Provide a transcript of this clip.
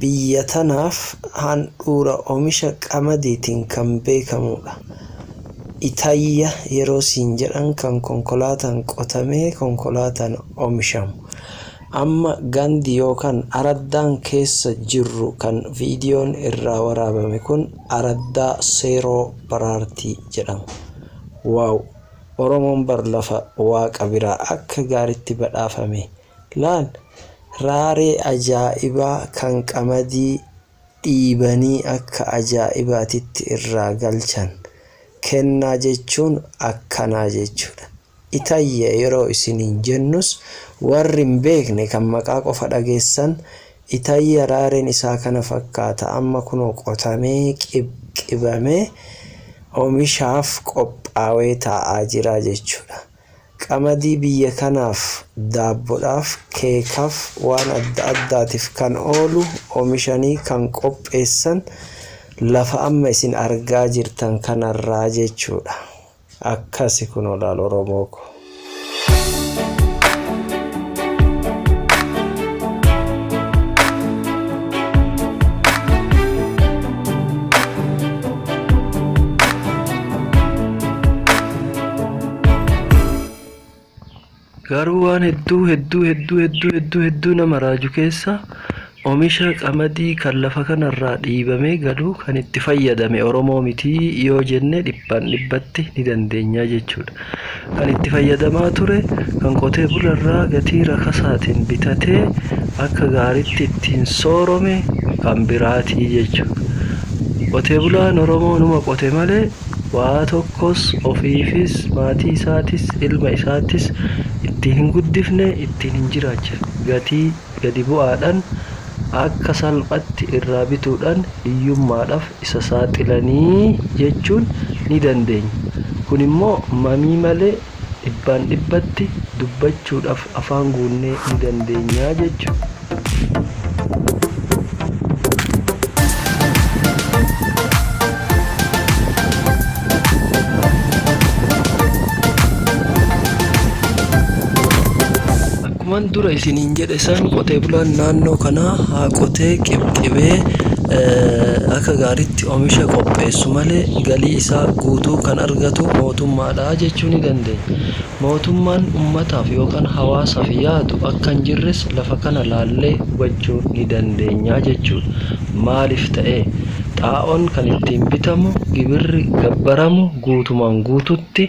Biyya tanaaf handhuura omisha qamadiitiin kan beekamuudha. Itayya yeroo siin jedhan kan konkolaataan qotamee konkolaataan omishamu. Amma gandi yookaan araddaan keessa jirru kan viidiyoon irraa waraabame kun araddaa Seeroo Baraartii jedhama. Wow! Oromoon bar lafa waaqa biraa akka gaaritti badhaafame. Laal raaree ajaa'ibaa kan qamadii dhiibanii akka ajaa'ibaatitti irraa galchan. Kennaa jechuun akkanaa jechuudha. Itayyee yeroo isiniin jennus warri hin beekne kan maqaa qofa dhageessan Itayya raareen isaa kana fakkaata amma kunoo qotamee qibqibamee omishaaf qophaawee taa'aa jira jechuudha. Qamadii biyya kanaaf, daabbodhaaf, keekaf waan adda addaatif kan oolu omishanii kan qopheessan lafa amma isin argaa jirtan kanarraa jechuudha. Akkasi kunoo laal Oromoo koo. Garuu waan hedduu hedduu hedduu hedduu hedduu hedduu nama raaju keessa omisha qamadii kan lafa kanarraa dhiibamee galu kan itti fayyadame Oromoo mitii yoo jenne dhibbaan dhibbatti ni dandeenya jechuudha. kan itti fayyadamaa ture kan qotee bularraa gatii rakasaatiin bitatee akka gaaritti ittiin soorome kan biraatii jechuudha. Qotee bulaan Oromoo numa qote malee waa tokkos ofiifis, maatii isaatis, ilma isaatis ittiin hin guddifne, ittiin hin jiraachifne. Gatii gadi bu'aadhaan akka salphatti irraa bituudhaan hiyyummaadhaaf isa saaxilanii jechuun ni dandeenya. Kun immoo mamii malee dhibbaan dhibbatti dubbachuudhaaf afaan guunnee ni dandeenya jechuudha. Akkuman dura isiniin jedhe san qotee bulaan naannoo kanaa haa qotee qibxibee akka gaariitti omisha qopheessu malee galii isaa guutuu kan argatu mootummaadha jechuu ni dandeenya. Mootummaan ummataaf yookaan hawaasaaf yaadu akka hin jirres lafa kana laallee hubachuu ni dandeenya jechuudha. Maaliif ta'ee? Xaa'oon kan ittiin bitamu, gibirri gabbaramu guutumaan guututti.